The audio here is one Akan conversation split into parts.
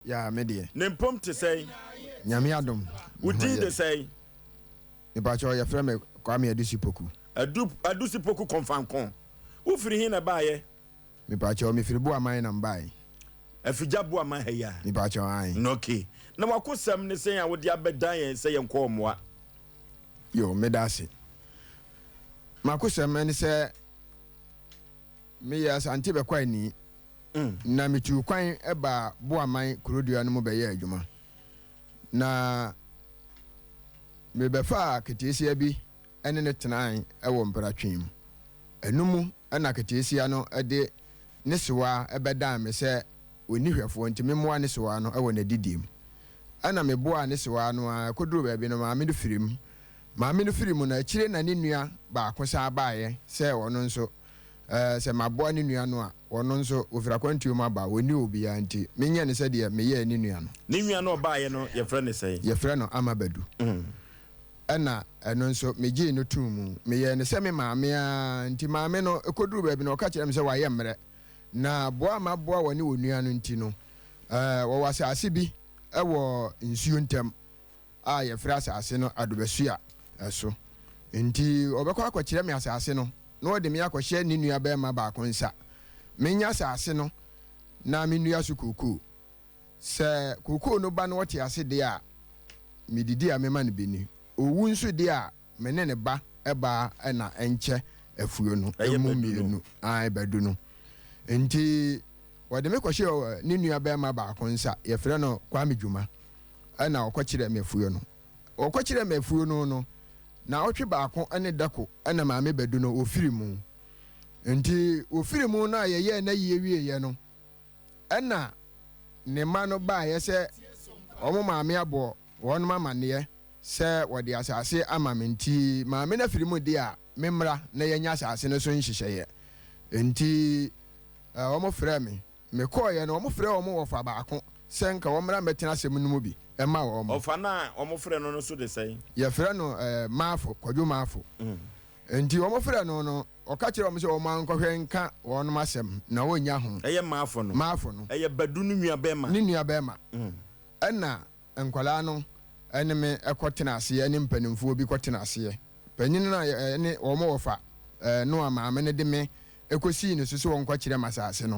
Yaa me deɛ. Ne mpom te sɛn? Nyame adom Wo din de sɛn? Mepakyɛw yɛfrɛ me Kwame Adusi Poku. Adu Adusi Poku Kɔmfanko. Wo firi he na ɛbaeɛ? Mepakyɛw mefiri Buaman na mbae. Afigya Buaman ha yi a? Mepakyɛw ae. No ok. Na w'akosɛm ne sɛn a wode abɛdan yɛn sɛ yɛnkɔ ɔmoa? Yo, meda ase. M'akosɛm ne sɛ Meyɛɛ Asante bɛkwaani na metuu kwan baa Boaman kurodua no mu bɛyɛɛ adwuma. Na mebɛfaa keteesia bi ne no tenae wɔ mpratwe mu. Ɛno mu na keteesia no de ne sewaa bɛdan me sɛ onni hwɛfoɔ nti memmoa ne sewaa no wɔ n'adidie mu. Ɛna meboaa ne sewaa no ara ɛkɔduruu baabi no maame no firii mu. Maame no firii mu no akyire na ne nua baako san baeɛ sɛ ɔno nso Ɛɛ, sɛ maboa ne nua no a, ɔno nso, ɔfiri akwantuo mu aba a, ɔnni obiara nti, menyɛ no sɛdeɛ meyɛɛ ne nua no. Ne nua no a ɔbaeɛ no, yɛfrɛ no sɛn? Yɛfrɛ no Amabadu. Ɛnna ɛno nso, megyee no too mu. Meyɛɛ no sɛ me maame ara nti, maame no, ɛkɔduruu baabi no, ɔka kyerɛɛ me sɛ wayɛ mmerɛ. Na boa a maboa wɔne wɔn nua no nti no, ɛɛ, wɔwɔ asase bi wɔ nsuo ntam. a yɛfrɛ asase no adobasua so. Enti ɔbɛkɔ akɔkyerɛ me asase no, na ɔde me akɔhyɛ ne nuabarima baako nsa. Menya asase no na mennua so kookoo. Sɛ kookoo no ba na ɔte ase deɛ a, medidi a mɛma no bi ni. Ɔwu nso deɛ a, Me ne ne ba baa na nkyɛ afuo no mu mmienu ae bɛdu no nti wɔde me kɔhyɛɛ ne nua barima baako nsa yɛfrɛ no Kwame Dwuma na ɔkɔkyerɛɛ me afuo no ɔkɔkyerɛɛ me afuo no no naawɔtwe baako ne dako na maame bɛdu no wɔfiri mu nti wɔfiri mu no a yɛyɛɛ n'ayie wieeɛ no ɛna ne mma no baeɛ sɛ wɔn maame abɔ wɔnom amaneɛ sɛ wɔde asase ama me nti maame no afiri mu de a memmra na yɛnyɛ asase no so nhyehyɛeɛ nti wɔn frɛɛ me me kɔɔeɛ no wɔn frɛɛ wɔn wɔfa baako sɛ nka wɔn mmra mmɛtena asɛm no mu bi ɛma wɔn. Ɔfa no a wɔn frɛ no no so de sɛn? Yɛfrɛ no eh, Maafo, Kwadwo Maafo. Mm. Enti wɔfrɛɛ no no, ɔka kyerɛɛ wɔn sɛ wɔnkɔhwɛ nka wɔnom asɛm, na wɔnnya ho. Ɛyɛ Maafo no. Maafo no. Ɛyɛ Badu no nuabɛɛma. Ne nuabɛɛma. Ɛna nkwadaa no ne me kɔtenaa aseɛ, ne mpanimfoɔ bi kɔtenaa aseɛ. Panin no a yɛne wɔn wɔ fa no a maame no de me kɔsii ne so sɛ ɔnkɔkyerɛ m'asase no,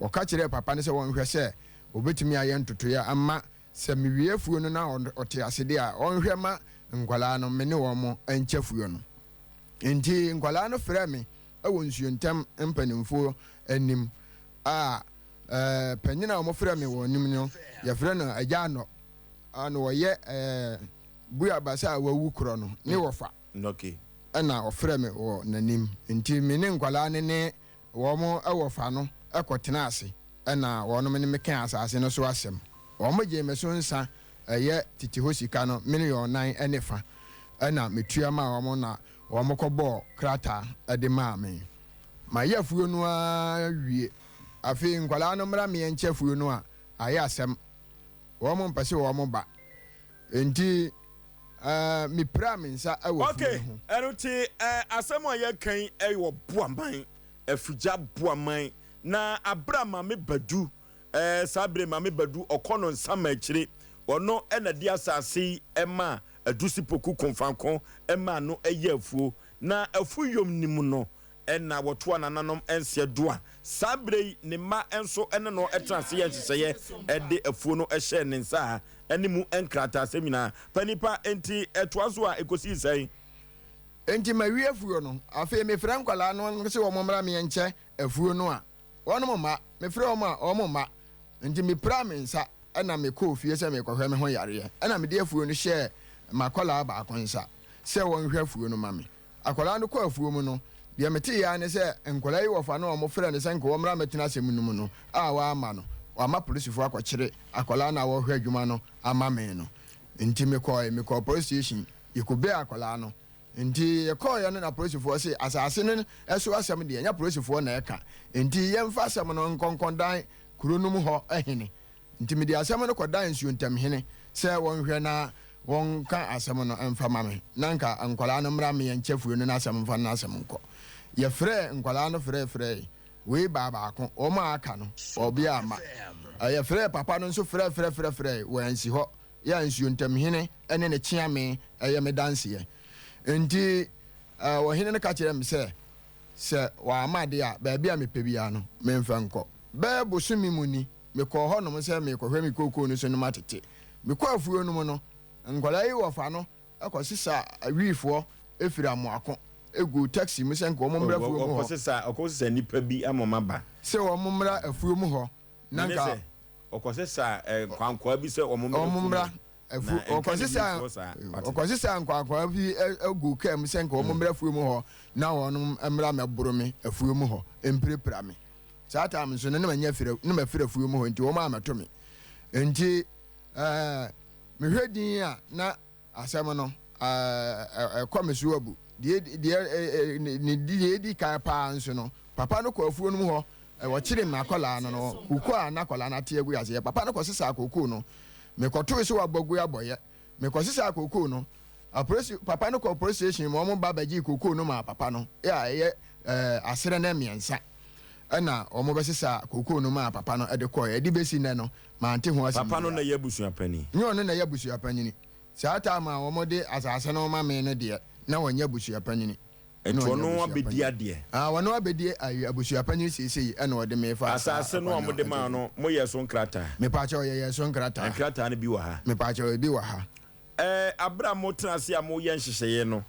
ɔka kyerɛɛ papa no sɛ ɔnhwɛ sɛ ɔbɛtumi ayɛ ntotoeɛ ama Sɛ mewie afuo no na ɔte ase deɛ a, ɔnhwɛ ma nkwadaa no me ne wɔn nkyɛ afuo no. Enti nkwadaa no frɛɛ me wɔ nsuo ntam mpanimfoɔ anim a panin a wɔfrɛɛ me wɔn anim no, yɛfrɛ no Agya Anɔ a na ɔyɛ Buiabasa a wawu korɔ no ne wɔfa na ɔfrɛɛ me wɔ n'anim. Enti me ne nkwadaa no ne Wɔn wɔfa no kɔtenaa ase na wɔnom ne me kaa asase no so asɛm. Wɔgyee me so nsa, ɛyɛ tete hɔ sika no miliɔn nan ne fa, ɛna metua maa wɔn na wɔkɔbɔɔ krataa de maa me. Mayɛ afuo no ara wie. Afei nkwadaa no mmra meɛnkyɛ afuo no a, ayɛ asɛm. Wɔmpɛ sɛ wɔba. Enti eh, mipiraa me nsa wɔ funu no ho. Okay, ɛno te eh, asɛm a yɛka yi eh, wɔ Buaman, Afigya Buaman, na abere a Maame Badu eh, saa bere Maame Badu ɔkɔ no Nsamakyire, ɔno na de asase yi eh, maa Adusi Poku Komfanko eh, maa no eh, yɛ afuo, na Afuyom nim no. Ɛnna wɔtoo anananom nseɛ Doa. Saa berɛ yi ne mma nso ne no tenaa ase yɛɛ nhyehyɛeɛ de afuo no hyɛɛ ne nsa a ne mu nkrataasɛm nyinaa pa nnipa. Enti ɛtoa so a ɛkɔsii sɛn? Enti mawie afuo no. Afei mefrɛ nkwadaa no sɛ wɔmmra meɛnkyɛ afuo no a wɔnom mma. Mefrɛɛ wɔn a wɔn mma. Enti mepiraa me nsa na mekɔɔ fie sɛ merekɔhwɛ me ho yareɛ. Ɛnna mede afuo no hyɛɛ m'akwadaa baako nsa sɛ ɔnhwɛ afuo no ma me. Akwadaa no kɔ afuo mu no, deɛ meteeɛ ara ne sɛ nkwadaa yi wɔfa no a wɔfrɛ no sɛ nka wɔmmra mmɛtena asɛm no mu no a wɔamma no. Wɔama polisifoɔ akɔkyere akwadaa no a wɔrehwɛ adwuma no ama me no. Enti mekɔɔe, mekɔɔ police station, yɛkɔbuee akwadaa no. Enti yɛkɔɔeɛ no na polisifoɔ se asase no so asɛm deɛ ɛnyɛ polisifoɔ na ɛka, enti yɛmfa asɛm no nkɔ nkɔdan kuro no mu hɔ hene. Nti mede asɛm no kɔdaa nsuo ntam hene sɛ wɔnhwɛ na wɔnka asɛm no mfa mma me, na anka nkwadaa no mmra mmea nkyɛfuo no n'asɛm mfa n'asɛm nkɔ. Yɛfrɛɛ nkwadaa no frɛɛfrɛɛe, wei baa baako, wɔn a aka no, ɔbea amma. Yɛfrɛɛ papa no nso frɛɛfrɛɛfrɛɛfrɛɛe, wansi hɔ. Yɛ a nsuo ntam hene ne ne kyeame yɛ me danseɛ. Nti ɔhene no ka kyerɛɛ me sɛ, sɛ wamma de a, baabi a mepɛ biara no, memfa nkɔ. Bɛyɛ bosome mu ni, mekɔɔ hɔnom sɛ merekɔhwɛ me kookoo no so no matete. Mekɔɔ afuo no mu no, nkwadaa yi wɔfa no kɔsesa awiifoɔ firi amoako gu taxi mu sɛ nka wɔn mmra afuo mu hɔ. Wɔkɔsesa wɔkɔsesa nnipa bi ama wɔn aba. Sɛ wɔn mmra afuo mu hɔ na nka. Mene sɛ wɔkɔsesa nkwankwaa bi sɛ wɔn mmra afuo mu. Wɔn mmra na ɛnka ne bi ntoɔ saa. Ɔkɔsesaa nkwakwaa bi guu kaa mu sɛ nka wɔn mmra afuo mu hɔ na wɔn mmra mɛboro me afuo mu hɔ mpirapira me saa taam nso no na manya fira na mafira afuo mu hɔ nti wɔn amɛto me nti ɛɛ mehwɛ din a na asɛm no ɛɛ ɛkɔ me so abu deɛ deɛ ɛɛ ne deɛ edi kan paa nso no papa no kɔ afuo no mu hɔ wɔkyere n'akɔlaa no no koko a n'akɔlaa no ate agu aseɛ papa no kɔ sesa koko no Mekɔtoo so wɔ Bogu Aboyɛ. Mekɔsesaa kookoo no. Apolisi papa no kɔɔ polisi station ma wɔba bɛgyee kookoo no maa papa no a ɛyɛ asrɛ na mmiɛnsa na wɔbɛsesaa kookoo no maa papa no de kɔeɛ. Ɛde bɛsi nnɛ no, mante ho asɛm biara. Papa no na ɛyɛ abusua panin? Nyɛ ɔno na ɛyɛ abusua panin. Saa time a wɔde asase no rema me no deɛ, na ɔnyɛ abusua panin. Ɛna Toɔ ɔnyɛ no abusua abɛdi panyin. adeɛ. Ah, ɔno abɛdi ayi abusua panyin seisei ɛna ɔde me fa saa Asaase no a akwan mode maa ɛdeɛ. no, moyɛɛ so nkrataa? Mepaakyɛw yɛyɛɛ so Na nkrataa. nkrataa no bi wɔ ha. Mepaakyɛw ebi wɔ ha. Ɛɛ, aberɛ a motena ase a moyɛ nhyehyɛeɛ no,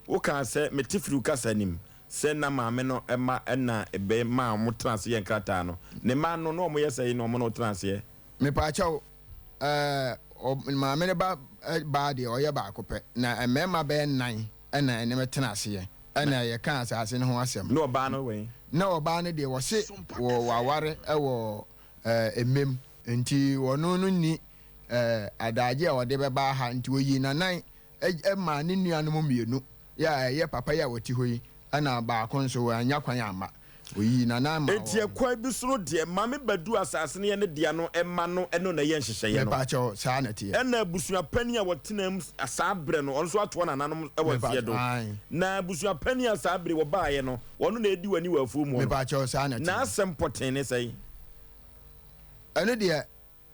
wokaa sɛ, mete firi wo kasa no mu, sɛ na maame no mma na ɛbɛ maa motena ase yɛ nkrataa no. Ne mma no, na wɔyɛ sɛn na wɔn ne wo tena aseɛ? Mepaakyɛw, ɛɛ, ɔ, maame no ba, ɛ, baa deɛ, ɔyɛ baako pɛ. Na mmarima bɛyɛ nnan. Ɛna ɛne me tena aseɛ. Ɛna yɛkaa asaase no ho asɛm. Na ɔbaa no wɛn? Na ɔbaa no deɛ wɔse wɔ waware wɔ mmem nti ɔno no nni adagye a ɔde bɛba aha nti ɔyii nanan maa ne nuanom mmienu yɛ ɛyɛ papa yi a ɔte hɔ yi ɛna baako nso wannya kwan amma. Oyii n'anan maa wɔn. Enti ɛkwan bi so no deɛ, Maame Badu asase no yɛ ne dea no mma no ne no na ɛyɛ nhyehyɛeɛ no. Mepaakyɛw, saa na ɛteɛ. Ɛna abusua panin a wɔtenaa mu saa berɛ no, ɔno nso atoa nananom wɔ nseɛ do. Na abusua panin a saa bere wɔbaeɛ no, ɔno na ɛredi w'ani wɔ afuo muɔ no. Mepaakyɛw, saa na ɛteɛ. N'asɛm pɔtee ne sɛn? Ɛno deɛ,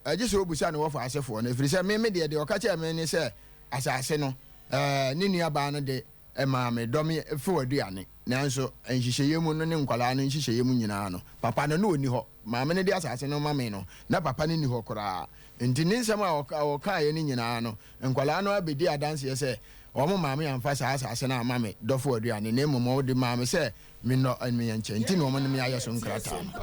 Ɛgye sɛ ɔbisa ne wɔfa asefoɔ no, ɛfiri sɛ me, me deɛ, deɛ ɔka kyɛɛ me ne sɛ, Asase no, ne nuabaa no de maa me dɔ me few aduane, nanso nhyehyɛeɛ mu no ne nkwadaa no nhyehyɛeɛ mu nyinaa no, papa no, na ɔnni hɔ. Maame no de asase no rema me no, na papa no nni hɔ koraa. Enti ne nsɛm a ɔkaeɛ no nyinaa no, nkwadaa no ara bɛdii adanseɛ sɛ, Wɔn maame amfa saa asase no amma me dɔfo aduane, na mmom ɔde maa me sɛ mennɔ me nkyɛ, enti na wɔde me ayɛ so nkrataa no.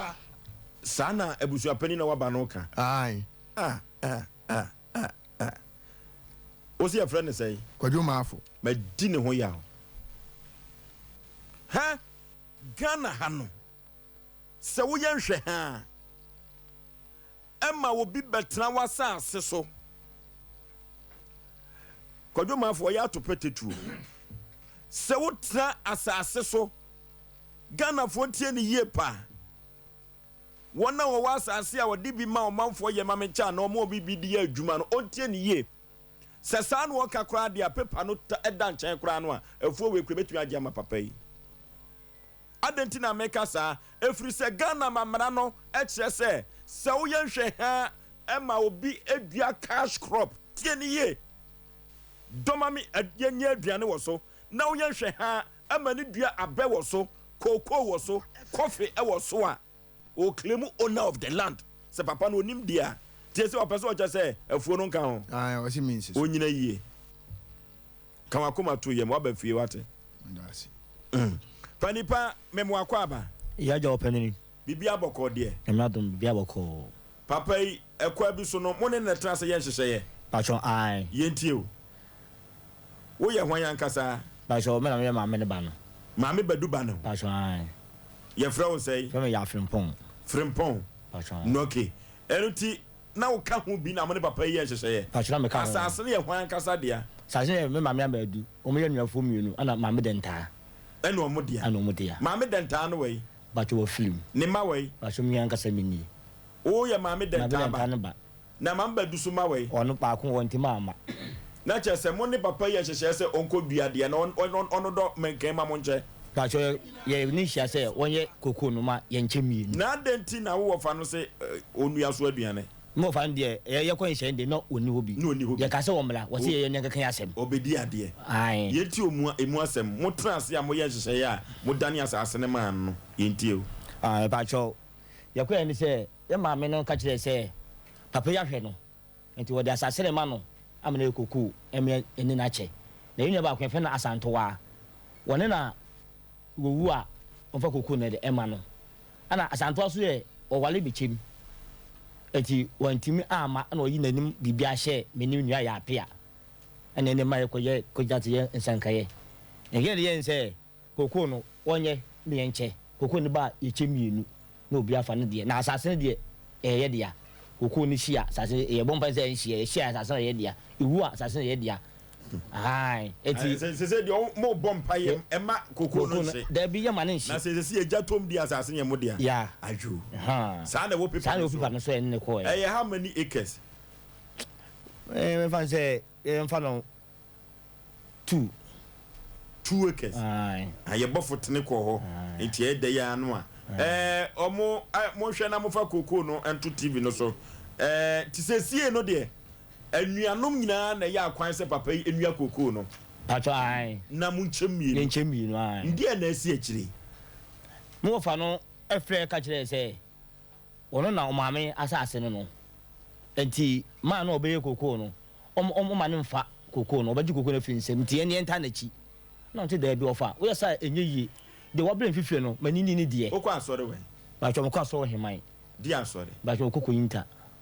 Saa na abusuapanin a waba no reka. Ae. Ah, ah, ah, ah, ah. Wo se yɛfrɛ no sɛn? Kwadwo Maafo. Madi ne ho yaw. Ha Ghana ha no, sɛ woyɛ nhwɛha a, ɛma obi bɛtena w'asase so. Kwadwo Maafo, ɔyɛ atopɛ tatuo. Sɛ wotena asase so. Ghanafoɔ tie no yie paa. Wɔn a wɔwɔ asase a ɔde bi ma ɔmanfoɔ yɛ ma me kyɛ anaa wɔn a wɔde bi de yɛ adwuma no, wɔntie no yie. Sɛ saa na ɔka koraa deɛ a, paper no ta ɛda nkyɛn koraa no a, afuo wei koraa ɛbɛtumi agye ama papa yi. Adɛn nti na meka saa? Ɛfiri sɛ Ghana ma mmara no kyerɛ sɛ, sɛ woyɛ nhwɛhaa ma obi dua cash crop, tie no yie, dɔma me, yɛnyɛ aduane wɔ so. na woyɛ nhwɛhaa ma ne dua abɛ wɔ so, cocoa wɔ so, coffee wɔ so a, o claim owner of the land. Sɛ papa no onim deɛ a, tie sɛ ɔpɛ sɛ ɔkyɛ sɛ afuo no nka ho. Ae, ɔse mensi so. Onyina yie. Ka w'akoma to yam, w'aba fie w'ate. Meda ase. Mm. Panipa, mem w'akwaaba. Yagya ɔpanini. Biribiara bɔkɔɔ deɛ. Nyame adom, biribiara bɔkɔɔ. Papa yi ɛkwa bi so no mo ne no ɛtena ase yɛ nhyehyɛeɛ. Patwɔ ae. Yɛntie o. Wo yɛ hwan ankasa? Patwɔ me na me yɛ maame no ba no. Maame Badu ba no. Patwɔ ae. Yɛfrɛ wo sɛn? Frɛ me Yaa Frimpong. Frimpong? Patwɔ ae. Ok. Ɛno nti na wo ka ho bi na mo ne papa yi yɛ nhyehyɛeɛ? Patwɔ na me ka ho. Asaase no yɛ hwan ankasa dea? Asaase no yɛ me maame Amba Adu. Wɔn yɛ anuafoɔ mmienu ɛna maame Dɛntaa. Ɛna wɔn dea. Ɛna wɔn dea. Maame Dɛntaa ne wai? Bato wɔ film. Ne ma wɔ yi. Baso mi ankasa mi ni. Wo yɛ maame dɛntaa ba. Maame dɛntaa no ba. Na maame ba dusu ma wɔ yi. Ɔno baako wɔ ntɛm ama. Na kyerɛ sɛ mo ne papa yi yɛ nhyehyɛɛ sɛ ɔnkɔ dua adeɛ na ɔno dɔ mɛnkan ma mo nkyɛ. Baso yɛ ne hyia sɛ wɔn yɛ koko no ma yɛn kyɛ mienu. Na adɛn nti na wo wɔfa no se ɔnua so aduane. Me wɔfa no deɛ yɛ yɛkɔ nhyɛn deɛ na ɔnni hɔ bi. Na ɔnni hɔ bi. Yɛka sɛ wɔmmra, wɔse yɛyɛ ne nkeka yɛ asɛm. Ɔbɛdi adeɛ. Ae. Yɛntie ɔmu a, ɛmu asɛm. Motena ase a moyɛ nhyehyɛeɛ a modane asaase no maa no no, yɛntie o. Ae, mepakyɛw. Yɛkɔeɛ ne sɛ yɛ maame no ka kyerɛɛ sɛ papa yi ahwɛ no, enti wɔde asaase no rema no ama no ayɛ kokoo mmea ɛne no akyɛ. Na yɛn nua baako yɛfrɛ no Asantewaa. Wɔne na wɔwu a wɔmfa kokoo no de mma no. Ɛna Asantewaa nso yɛ ɔware me kyɛm nti wantumi amma ɛna ɔyi nanim biribiara hyɛɛ me ne me nua yɛ apea ɛna ɛnɛ ma yɛkɔ yɛ kɔgyina te yɛ nsankayɛ na yɛn yɛn sɛ kokoo no wɔnyɛ ne yɛn kyɛ kokoo no ba a yɛkyɛ mmienu na obi afa ne deɛ na asase no deɛ ɛyɛ yɛ dea kokoo no hyia asase yɛbɔ mpa sɛ ɛnhyia yɛhyia asase no yɛ dea ɛwu a asase no yɛ dea ahan eti. Eh, sɛ sɛ deɛ ɔmo oh, bɔ mpa yɛ ɛma eh, koko no nhye dabi yɛ ma ne nhye na sɛ sɛ yɛ gya tom di asase yɛ mo deɛ ya ayo saa na ɛwɔ pepa no so pepa no so ɛne kɔ ɛyɛ how many acres ɛɛ mɛ fan sɛ ɛɛ mfa no two two acres ayɛ bɔ fotene kɔ hɔ nti ɛyɛ dɛ yɛ ano a ɛɛ ɔmo ɛɛ mo nhwɛ na mo fa koko no ɛnto tv no so ɛɛ ti sɛ sie no deɛ. Anuanom nyinaa na ɛyɛ akwan sɛ papa yi nnua kookoo no. Mpatsɔ, ae. Na monkyɛ mmienu. Yɛnkyɛ mmienu, ae. Ndeɛ na asi akyire yi? Ne wɔfa no frɛɛ ka kyerɛɛ sɛ wɔno na ɔmaame asaase no no, nti maa na ɔbɛyɛ kookoo no, ɔm, ɔm, ɔma no mfa kookoo no, ɔbɛgye kookoo no afiri nsam, nti yɛn yɛntaa n'akyi. Ɛna ɔte daabi, ɔfa, woyɛ saa a, ɛnyɛ yie. Deɛ wɔabrɛ mfifire no, ma ne nni ne deɛ. Wokɔ asɔre wɛn? Mpatsɔ, mekɔ asɔre Ɔheman. Deɛ asɔre? Mpatsɔ, ɔkɔ Koyinta.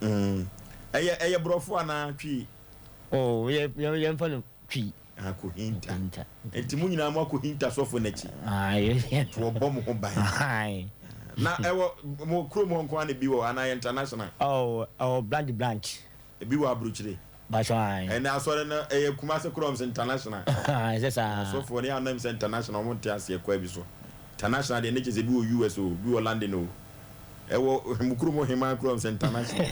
Mm. Ɛyɛ ɛyɛ borɔfo anaa Twi? Oh, yɛ yɛ yɛmfa no Twi. Ah, kohinta. Kohinta. Nti mo nyinaa mo akohinta sɔfo n'akyi. Ah, yɛ yɛ. Nti wɔbɔ mo ho ban. Ahan. Na ɛwɔ mo kurom hɔ nko ara na ebi wɔ anaa ɛyɛ international? Oh, ɛwɔ Blandi branch. Ebi wɔ Aburokyire? Mpakyɛw ae. Ɛnɛ asɔre no ɛyɛ Kumasi Quorums International. Ahaa ɛsɛ saa. Na asɔfoɔ no anam sɛ international wɔn nte aseɛ kwan bi so. International deɛ ne kyɛ sɛ ebi wɔ US oo, ebi wɔ London oo. Ɛwɔ mo kurom Oheman Quorums International.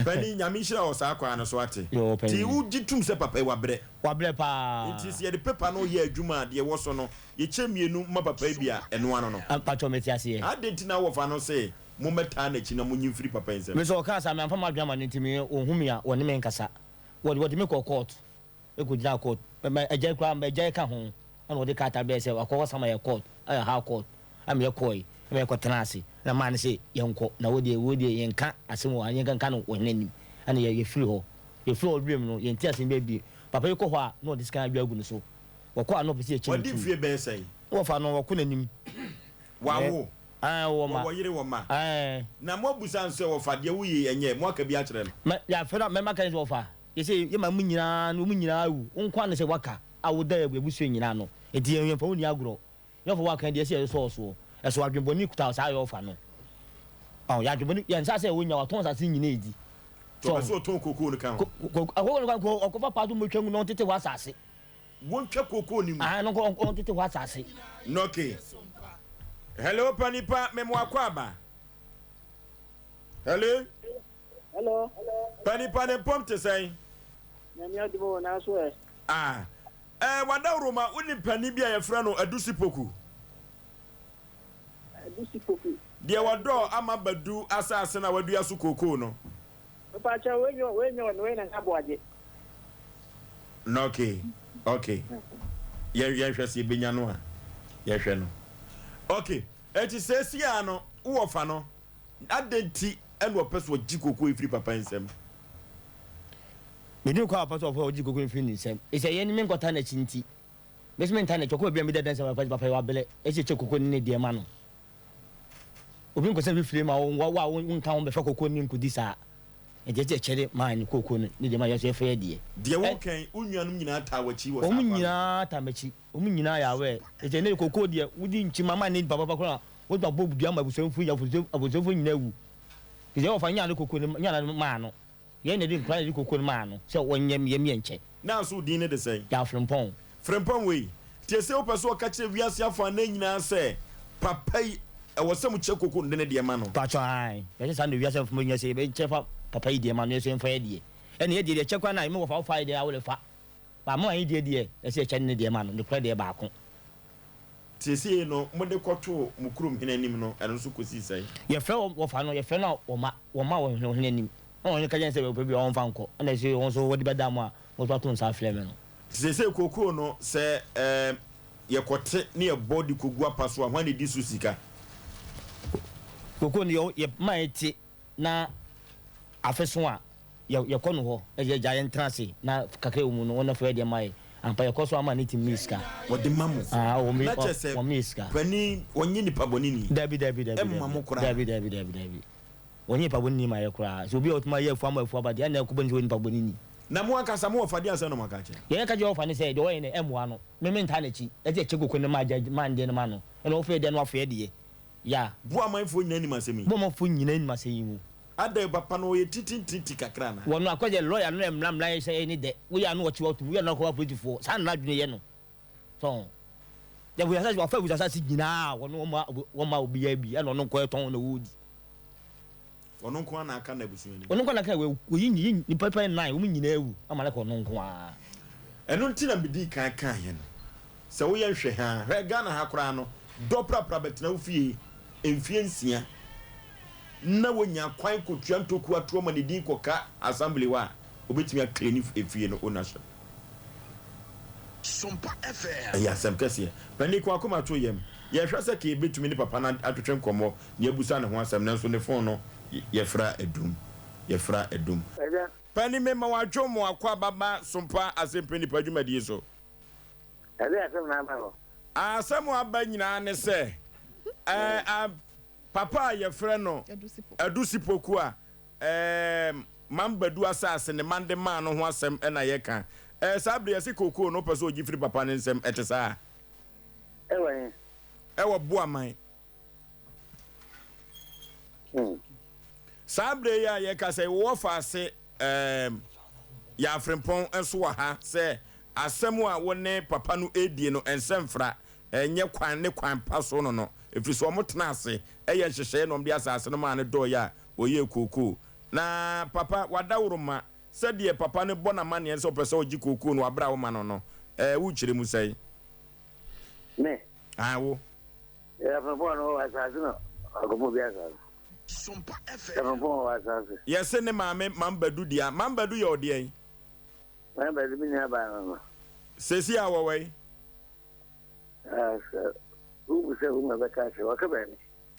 Panin Nyame nhyira wɔ saa kwan no so ate. Yoo panin. Nti wo gye tum sɛ papa yi wabrɛ. Wabrɛ paa. Nti sɛ yɛde paper no yɛ adwuma a deɛ ɛwɔ so no yɛkyɛ mmienu ma papa yi bi a ɛnoa no no. Mpakyɛw mete aseɛ. Adɛn nti na wɔfa no sɛ mommɛtaa n'akyi na monyi mfiri papa yi nsam. Me nso ɔkaa saa, mamfa m'adwene amma no nti me ɔnhu me a ɔne me nkasa. Wɔde wɔde me kɔɔ court, me kɔgyinaa court, ma agya koraa ma agya ka ho ɛna ɔde krataa brɛɛ sɛ wakɔ akɔsan m'ayɛ court ayɛ high court na meyɛ kɔɔe na meyɛ kɔ tenaa ase ɛna maa no sɛ yɛnkɔ na wei deɛ wei deɛ yɛnka asɛm wɔ ha yɛnka nka no ɔhene anim ɛna yɛ yɛfiri hɔ yɛfiri hɔ wiem no yɛnte asɛm biara bio papa yi kɔ hɔ a na ɔde sika adwa agu ne so wɔkɔ a na ɔpɛ sɛ yɛkyi no Wɔadi tu mfeɛ bɛyɛ sɛn? na wɔfa no wɔkɔ n'anim wɔawo, wɔwɔ yere, wɔn mma, na moabisa no sɛ ɔfa deɛ woyei ɛnyɛ, moaka bi akyerɛ no. Na yɛafrɛ no a mmarima aka no sɛ ɔfa, yɛ sɛ yɛma mo nyinaa no, wɔn nyinaa awu, wo nko ara na sɛ woaka a woda abusua nyinaa ano, enti yɛmfa wo nni agorɔ, na ɔfa woaka deɛ ɛsɛ yɛde sɔ wo soɔ, ɛso adwenbɔne kuta wo saa a yɛ ɔfa no, ɔho, yɛ adwenbɔne, yɛ nsa sɛ wonya, watɔn asase nyinaa adi. Tɔ ɔpɛ sɛ ɔtɔn kokoo no ka ho. Kokoo no ka ho, ɔkɔfa paa so mmɔtwa ngu na ɔntete hɔ asase. Wontwa kookoo no mu. Ah, no nko ɔn tete hɔ asase. Nɔke. Hello pa nipa memo akɔ aba. Hello. Hello. Pa nipa ne mpom te sɛn. Nyame adum o na so ɛ. Ah. Eh, wadaworo ma wo ni pani bi a yɛfrɛ no Adusipoku. Adusipoku. Deɛ wadɔ ama badu asase na wadua so kookoo no. Mepakyɛw, wei nyɛ wei nyɛ ɔno, wei na nyɛ aboagye. Na okay, okay. Yɛn yɛn hwɛ sɛ ebenya no a, yɛhwɛ no. Okay, eti sɛsi a no, wowɔ fa no, adan ti ɛna ɔpɛ sɛ ɔgye koko efiri papa nsam? Medi no kɔ a ɔpɛ sɛ ɔpɛ ɔgye koko efiri ne nsam. Esɛ yɛn ne me nkɔta n'akyi nti, me so me nta n'akyi, ɔkɔ baabi a medi adansi ama papa, papa yɛ wabelɛ, ɛsɛ kyɛ koko ne ne deɛ ma no. Obi nkɔ sɛ fifire ma wo wa wo nka ho bɛfa koko ne nkodi saa. Ɛdeɛ te ɛkyɛre maa ne koko no ne deɛ ma yɛsɛ fɛ deɛ. Deɛ wo nka yi, wo nuanom nyinaa taa wakyi wɔ saa kwan no so. Wɔn nyinaa taa makyi. Wɔn nyinaa yɛ aware. Ɛti ɛnɛ koko deɛ wodi nkyi ma ma ne nipa papa koraa wɔtumi abɔ dua ma abusuafoɔ nyinaa abusuafoɔ nyinaa awu. Ɛti ɛwɔ fa nyaa ne koko no nyaa no maa no. Yɛn na yɛde nkura na yɛde koko no maa no sɛ ɔnyɛ me yɛmmyɛ nkyɛ. Na so wo din no de sɛn? Yɛn Frempɔn. Frempɔn wei, tie sei wopɛ sɛ ɔka kyerɛ wiase afanan nyinaa sɛ papa yi ɛwɔ sɛ mo kyɛ koko no de ne deɛ ma no? Mpakyɛw aane, yɛpɛ sɛ saa na wiase afaman nyinaa sɛ yɛbɛ kyɛ fa papa yi deɛ ma no yɛn nso yɛmfa yɛn deɛ. Ɛne yɛn deɛ deɛ kyɛ koraa na yɛmɛ wɔ fa wo fa yɛ deɛ a wo de fa. But mo ayi deɛ deɛ ɛsɛ yɛkyɛ no ne deɛ ma no, ne korɛ deɛ baako. Seesei no, mode kɔtoo mo kurom hene anim no, ɛno nso kɔsii sɛn? Yɛfrɛɛ wɔn, wɔfaa no, yɛfrɛɛ no a, wɔma, wɔmaa wɔn hene, ɔhene anim. Ɛnna ɔhene ka kyerɛɛ yɛn sɛ, Ɔpɛ biribi a, ɔmfa nkɔ, ɛnna akyire yi wɔn nso wɔde bɛdaa mo a, mo nso ato nsa afrɛ me no. Seesei kɔ kurom no, sɛ yɛkɔte na yɛbɔ de kɔgu apa so a, hwan na ɛdi so sika? Kɔ kurom no, yɛma ɛte, na afe so a yɛ yɛkɔ no hɔ na yɛgya yɛn tena ase na kakra wɔ mu no wɔn na fɛ deɛ ma yɛ ampa yɛkɔ so ama ne ti mi sika wɔde ma mo ah wɔn na kyɛ sɛ wɔn mi sika pani wɔn nye nipa bɔ ne ni dabi dabi dabi ɛmma mo kora dabi dabi dabi dabi wɔn nye nipa bɔ ne ni ma yɛ kora sɛ obi a ɔtuma yɛ afu ama afu aba deɛ ɛna ɛkɔ bɔ ne sɛ wɔn nipa bɔ ne ni. Na mo ankasa mo wɔ fa deɛ asɛn na mo aka kyɛ. Deɛ yɛka kyɛ wɔ fa ne sɛ deɛ wɔyɛ no ɛmmoa no me me ntaa na kyi ɛte ɛkyɛ koko ne ma agya ma ndeɛ no ma no ɛna wɔfɛ deɛ no afɛ deɛ. Ya. Bo amanfoɔ nyina nim asɛm yi. Bo amanfoɔ nyina nim asɛm yi mu. Adɛn papa no ɔyɛ titintiti kakra anaa. Wɔ no akɔ deɛ lɔya no na mmra mmra yɛ sɛ ɛne dɛ wo yɛ ano ɔkye wato mu wo yɛ ano akɔ wa politifoɔ saa na adwene yɛ no so ho deɛ abusa sase wafa abusa sase nyinaa wɔ no wɔn ma wɔn ma obi yɛ bi ɛna ɔno nkɔ ɛtɔn na ɔdi. Ɔno nko ara na aka n'abusua no mu. Ɔno nko ara na aka n'abusua no mu. Wɔayi nnipa pɛn nnan, wɔn nyinaa awu, ama no aka ɔno nko ara. Ɛno nti na midii kan kaeɛ no sɛ woyɛ nhwɛha a, hwɛ Ghana ha koraa no, dɔ prapra bɛtena wo fie mfeɛ nsia na wanya kwan kɔtua ntɔkuo atoɔ ma ne din kɔka Assembly hɔ a, ɔbɛtumi a claim efie no ownership. Ɛyɛ asɛm kɛseɛ. Panin ko akoma to yam. Yɛhwɛ sɛ kei bɛtumi ne papa no atwetwe nkɔmmɔ na abisa ne ho asɛm nanso ne fon no yɛfra adum. Yɛfra adum. Panin mema wo adwo mo akɔ aba ba Sompa Asɛmpa Nnipa dwumadie so. Ɛdeɛ asɛm na aba hɔ. Asɛm a aba nyinaa ne sɛ eh, ah, papa a yɛfrɛ no Adu Sipoku a Ɛɛm, Man Badu asaase ne man de maa no ho asɛm na yɛka. Ɛɛ, saa bere yi ɛse kookoo no ɔpɛ sɛ ɔgye firi papa no nsam, ɛte saa? Ɛwɔ he? Ɛwɔ Buaman. Hmm. Saa bere yi a yɛka sɛ wɔ afaase ɛɛm, yɛ Afrempɔn nso wɔ ha sɛ asɛm a wo ne papa no redie no nsɛmfra ɛnyɛ kwan ne kwan pa so no no, ɛfiri sɛ wɔtena ase yɛ nhyehyɛeɛ na wɔde asaase no maa no dɔɔɛ a wɔyɛɛ kookoo. Na papa, w'adaworoma, sɛdeɛ papa no bɔ no amanneɛ sɛ ɔpɛ sɛ ɔgye kookoo no wɔ aberɛ a woma no no, ɛɛ, wokyerɛ mu sɛn? Me? Aane, wo. Ɛɛ, frɔmpɔn no, ɔwɔ asaase na wakɔpɔn obi asaase. Ɛɛ, frɔmpɔn ɔwɔ asaase. Yɛse ne maame Mam Badu dea. Mam Badu yɛ ɔdeɛn? Mam Badu, me nuabaa no no. Seesei a ɔwɔ wɛn? Ɛɛ, sɛ wobu sɛ woma bɛka akyerɛ, ɔka baabi.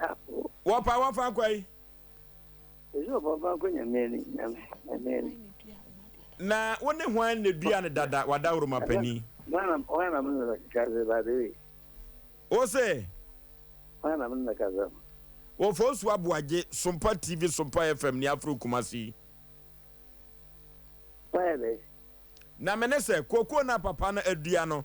Awo. Wɔpa wɔfa akwa yi. Ɛsɛ ɔpa ɔfa akwa nyame ni nyame nyame ni. Na wo ne hwan na dua no dada w'adaworoma panin. Hwan na mo ne no kasa by the way. Wo se. Hwan na mo ne no kasa. Wɔ Fosu Aboagye, Sompa TV, Sompa FM ne Afro Kumasi. Wayɛ dɛ. Na me ne sɛ, kookoo no a papa no adua no,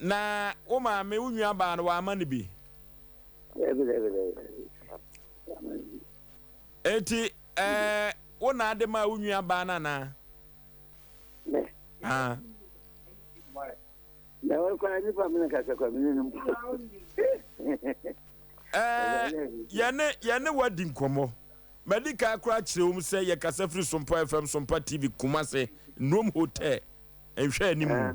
Na wo maame, wo nuabaa no, wamma no bi? Dabi, dabi, dabi, dabi. Wamma no bi. Enti, ɛɛ, wo na ade maa wo nuabaa no anaa? Mɛ. Ah. Na wɔn kwan nipa mi na kasa kwan mi ne no mpo. Ɛɛ, yɛne yɛne wadi nkɔmmɔ. Madi kan koraa kyerɛ wɔn sɛ yɛkasa firi Sompa FM, Sompa TV, Kumase, Nnuom Hotel, nhwɛ anim. Ah.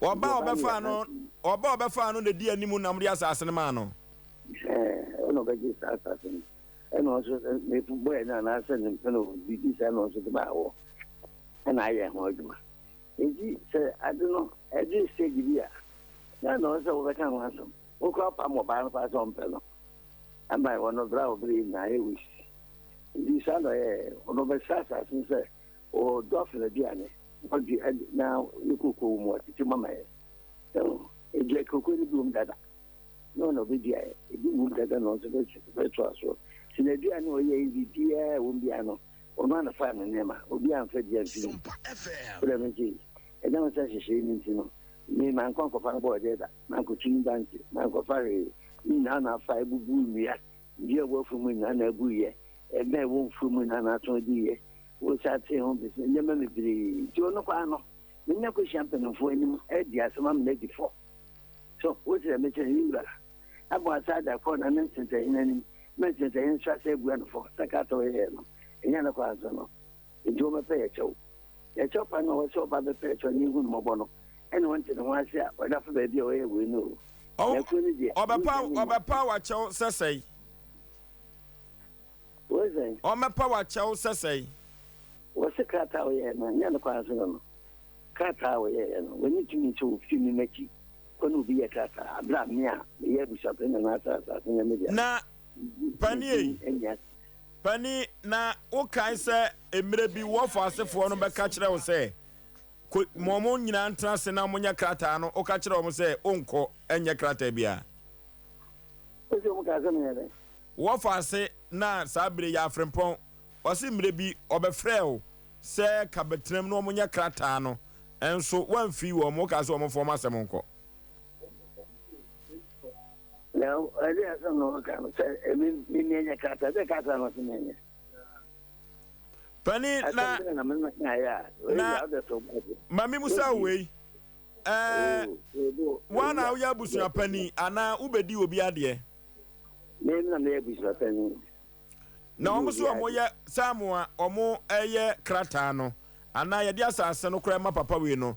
Ɔba a ɔbɛfaa no, ɔba a ɔbɛfaa no na edi anim nam de asase no maa no. Ɛna ɔbɛgye saa asase no. Ɛna ɔnso n'efu bɔe no anaasɛ ne mpɛ na ɔdi di saa na ɔnso de maa wɔ. Ɛna ayɛ ho adwuma. Enti sɛ ade no ɛdu stage bi a, na na ɔsɛ sɛ wobɛka ho asɛm. Wokora wopam ɔbaa no paa sɛ ɔmpɛ no. Ama wɔ no bere a ɔbere nyinaa ayɛ waste. Enti saa na ɔyɛɛ. Ɔno ɔbɛsrɛ asase no sɛ O dɔɔso n'aduane, ɔde ade na ne kooko wɔ mu a ɔtete mama yɛn. Ɛho, edua kooko no bi wɔ mu dada, na ɔna ɔbɛdua yɛ, ebi wɔ mu dada na ɔno nso bɛtoa so. Sɛ n'aduane a ɔyɛ yɛ biribiara a ɛwɔ mu biara no, ɔno ara na faa no nneɛma, obiara amfa bi amfiri mu. Wo dɛm nti, ɛnam wo nsa nhyehyɛeɛ no nti no, me, mankɔ ankɔfa no bɔɔdeɛ da, mankɔtu ne bante, mankɔfa hwee, ne nyinaa na afa abubu nnua. Dua a wɔafu mu nna na aguiɛ, ɛdan a wɔmfui mu nna na ato adiiɛ, wɔ asaase ho bɛsi nneɛma bebree. Nti ɔno paa no, menya kɔhyia mpanimfoɔ anim adi asɛm ama no adi fɔ. So wosrɛ me sɛ, me wura, abɔ asaada kɔ na ne nsensɛnhene anim, ma nsensɛnhene nso asɛ abua no fɔ sɛ ka a ɔyɛeɛ no, ɛnyɛ nokware nso no? Enti wɔbɛpɛ yɛn kyɛw. Yɛn kyɛw pa no a ɔwɔ sɛ ɔba bɛpɛ yɛn kyɛw ne ahummɔbɔ no, ɛnna ɔnte ne ho ase a ɔda fa baabi a ɔyɛ wei no o. Na akuo no deɛ, ɔnhwɛ ne mu ase. Ɔbɛpa w'akyɛw sɛ sɛn? Wei sɛn? Ɔbɛpa w'akyɛw sɛ sɛn? Wɔse krataa a ɔyɛeɛ no, ɛnyɛ ne kwan so no no. Krataa a ɔyɛeɛ no, wɔnni tumi sɛ wɔfiri me m'akyi kɔ ne obi yɛ krataa, berɛ a me a meyɛ abusuapani na m'asase asase no yɛ me dea no, medi din nni aseɛ. Pani, na wokae sɛ mmerɛ bi w'ɔfɔ asefoɔ no bɛka kyerɛ wo sɛ, Kɔ, ma wɔn nyinaa ntena ase na wɔnyɛ krataa no, woka kyerɛɛ wɔn sɛ, Wonkɔ, ɛnyɛ krataa biara. Enti wɔkaa sɛ, Menyɛ dɛn? W'ɔfɔ ase, na saa berɛ yi yɛ afrempɔn. Ɔse mmerɛ bi ɔbɛfrɛɛ wo sɛ ka bɛtenam na wɔnyɛ krataa no, nso woamfiri wɔn, wokaa sɛ wɔmfa wɔn asɛm nkɔ. Na ɛde asɛm na ɔka no sɛ ɛmi mimi ɛnyɛ kasa ɛde kasa no sɛ mimi. Pani na na mimi na ya na ɔde so bɔdi. Mami musa wei. Ɛɛ wa na woyɛ abusua pani ana wobɛdi obi adeɛ. Mimi na meyɛ abusua pani. Na wɔn so wɔn yɛ saa mo a wɔn ɛyɛ krataa no ana yɛde asase no koraa ma papa wei no.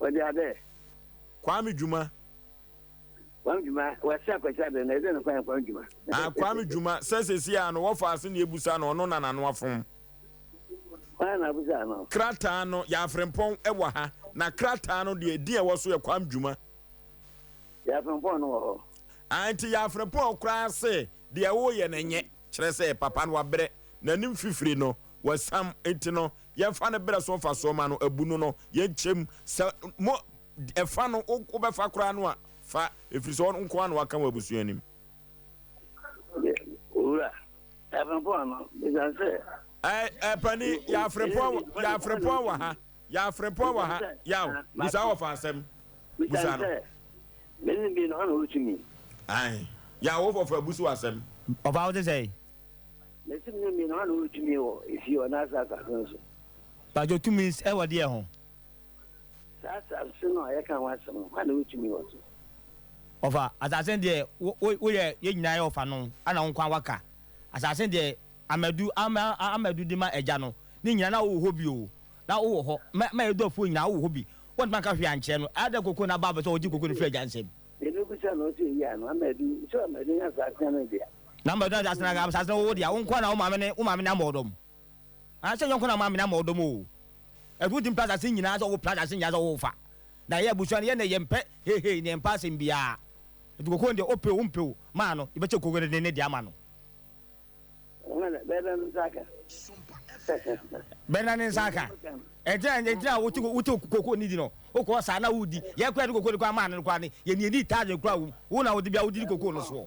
Wɔde abɛ. Kwame Dwuma. Kwame Dwuma, wɔse Akwasi abɛ na ɛdɛ no kwan Kwame Dwuma. Ah, Kwame Dwuma, sɛ sɛsi a no wɔfa ase na ebusa no, ɔno na n'ano afom. Wan na abusa no? Krataa no, yɛ Afrempɔn wɔ ha, na krataa no deɛ din a ɛwɔ so yɛ Kwame Dwuma. Yɛ Afrempɔn no wɔ hɔ. Ah, nti yɛ Afrempɔn koraa se deɛ woyɛ no nyɛ, kyerɛ sɛ papa no wabrɛ, n'anim fifire no, wasam, nti no Yɛnfa no berɛ so mfasoɔ ma no, abu no no, yɛnkyɛ mu. Sɛ mo, ɛfa no, wobɛfa koraa no a, fa, ɛfiri sɛ ɔno nko ara na waka wɔn abusua anim. Owura, Yɛafrempɔn no, ɛsiane sɛ. Ɛɛ, ɛɛ, panin, Yɛafrempɔn, Yɛafrempɔn wɔ ha, Yɛafrempɔn wɔ ha, Yaw, busa wɔfa asɛm, busa no. Ɛsiane sɛ, me ne bi no, hɔ na ɔretumi. Aane, Yaw, wɔfa abusu asɛm. Ɔfa, wote sɛn? Mesi mene mmienu hana ɔretumi wɔ efie wɔ n'ase asase no so. Pajo tumi ɛwɔ deɛ ho. Saa asase no a yɛka ho asɛm no hana ɔretumi wɔ so. Ɔfa asase no deɛ woyɛ yɛ nyinaa yɛ ɔfa no ana wo nkwa waka asase no deɛ amadu amadu de ma ɛgya no ne nyinaa na wowɔ hɔ bi o na wowɔ hɔ mɛ mɛ ɛdɔ afuo nyinaa wowɔ hɔ bi wɔntumi anka hwee ankyerɛ no ɛyɛ dɛ koko na ba bɛ sɛ ɔgye koko no firi ɛgya nsam. Yɛbɛbisa no ɔsɛ ɛyi ano amadu sɛ amadu nya asase no deɛ. Na mma ɔtena asase na asase na ɔwɔ deɛ wo nkoa na wo maame ne wo maame na ama ɔdɔm ah sɛ nyɔnko na maame na ama ɔdɔm o ɛfiri wo ti mpɛ asase nyinaa sɛ ɔwɔ pɛ asase nyinaa sɛ ɔwɔ fa na yɛ abusua no yɛ na yɛ mpɛ hei hei na yɛ mpɛ asɛm biara ɛti koko deɛ ɔpɛ o mpɛ o maa no yɛ bɛkyɛ koko ne ne deɛ ama no. Wana bɛda ne nsa aka. Bɛda ne nsa aka. Ɛntina ɛntina wote wote koko ne di no. Wokɔ saa na wodi. Yɛ kura de koko de kɔ ama ne kura ne. Yɛ ni ni taade kura wo. Wo na wodi bia wodi koko no soɔ.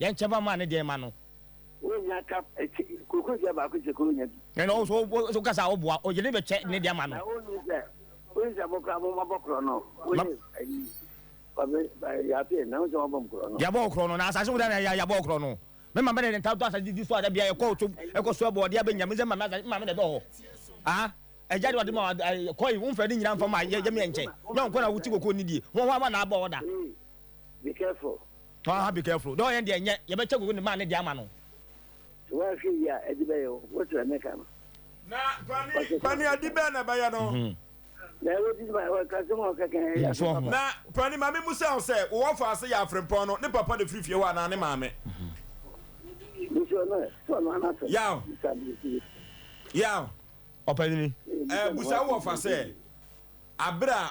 Yɛn kyɛfa maa ne deɛ ma no. Wo nya cup ɛkyɛ koko dua baako kyɛ koro nya bi. Ɛna wo so wo so kasa wo boa ɔyere bɛ kyɛ ne deɛ ma no. Na wo nim sɛ wo nim sɛ mo kora mo ma bɔ korɔ no wo ne ayi ɔbɛ yaafe na wo sɛ wɔn bɔ mo korɔ no. Yabɔ wo korɔ no na asase wo da na ya yabɔ wo korɔ no me ma bɛ na yɛn ta to asase di di so ada bia yɛ kɔ so ɛkɔ so ɛbɔ ɔde abɛ nya me sɛ ma me asase ma me na ɛbɛ hɔ ah ɛgya de ɔde ma kɔ yi wo nfɛ ne nyina nfa ma yɛ yɛ me yɛ nkyɛ nyɛ wo kɔ na wo ti koko ni die ho ho ama na abɔ ɔda. Be careful. Tɔn ha be careful dɛ ɔyɛn deɛ nyɛ yɛbɛkyɛ gogo ne maa ne deɛ ama no. Sɛ woanhwɛ yie a ɛde bɛyɛ wo, wotrɛ me ka no. Na pani ade bɛn na ɛbɛyɛ no? Na ɛwɔ ti ma ɛwɔ kasɛm a ɔka kan ɛyɛ asɛm papa. Na pani ma me musa wo sɛ, wo wɔfa ase yɛ afrempɔn no, ne papa na ɛfiri fie hɔ anaa ne maame? Busua no ɛ, sɛ ɔno ara n'asɛm. Yaw. Bisa no nti. Yaw. Ɔpanini. Ɛɛ busa wo wɔfa sɛ, abere a.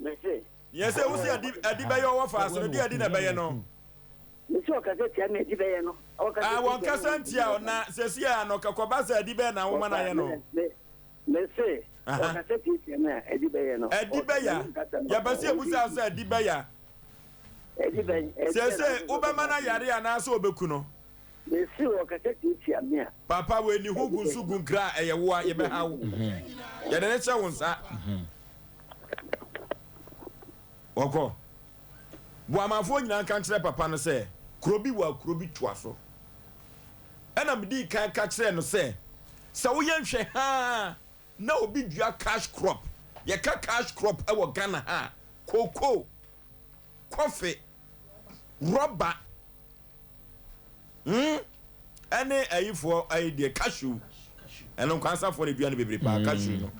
Mese. Nea ɛsɛ wusi adi adi bɛyɛ ɔwɔ fa so no, di adi na ɛbɛyɛ no. Mese ɔkasa tia me adi bɛyɛ no. Ɔkasa tia me ɔkasa ntia me tia o na sɛsi a no kɔba sɛ adi bɛyɛ na wo ma na yɛ no. Mese ɔkasa tia tia me a adi bɛyɛ no. Adi bɛya yɛbɛsi ebusa sɛ adi bɛya. Adi bɛn. Sɛsɛ wobɛma na yare anaasɛ obeku no. Mese wɔ kasa tiatia me a. Papa wei ne ho gu nso gu nkra a ɛyɛ wo a yɛbɛha wo. Yɛde ne hyɛ wo nsa. Wɔkɔ. Boamanfoɔ nyinaa nka nkyerɛ papa no sɛ kuro bi wɔ a kuro bi toa so. Ɛna medii kan ka kyerɛɛ no sɛ sɛ woyɛ nhwɛ haa na obi dua cash crop, yɛka cash crop wɔ Ghana ha a, cocoa, coffee, rɔba hmm ɛne ayifoɔ ayi deɛ cashew ɛno nkwansafoɔ na dua no bebree paa cashew no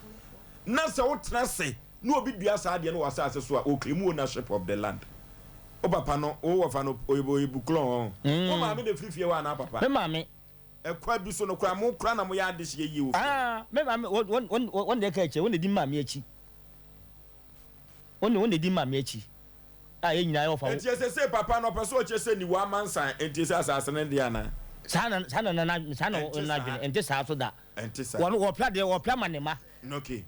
na sɛ wotena se na obi dua saa deɛ no wɔ asase so a ɔklimu ownership of the land wo papa no wo wɔfa no oyibo oyibo klɔn hɔ wo maame na efiri fie hɔ anaa papa me maame ɛkwa bi so no kora mo kora na mo yɛ adehyeɛ yie wɔ fie ah me maame wɔn deɛ ka akyire wɔn na di maame akyi wɔn na di maame akyi a yɛn nyinaa yɛwɔfa wo. Enti ɛsɛ sɛ papa no ɔpɛ sɛ ɔkyɛ sɛ niwa amansan enti sɛ asase no deɛ anaa. Saa na saa na na saa na wɔn adwene ɛnte saa so da. Ɛnte saa. Wɔn wɔpɛ adeɛ wɔpɛ ama ne ma. Okay.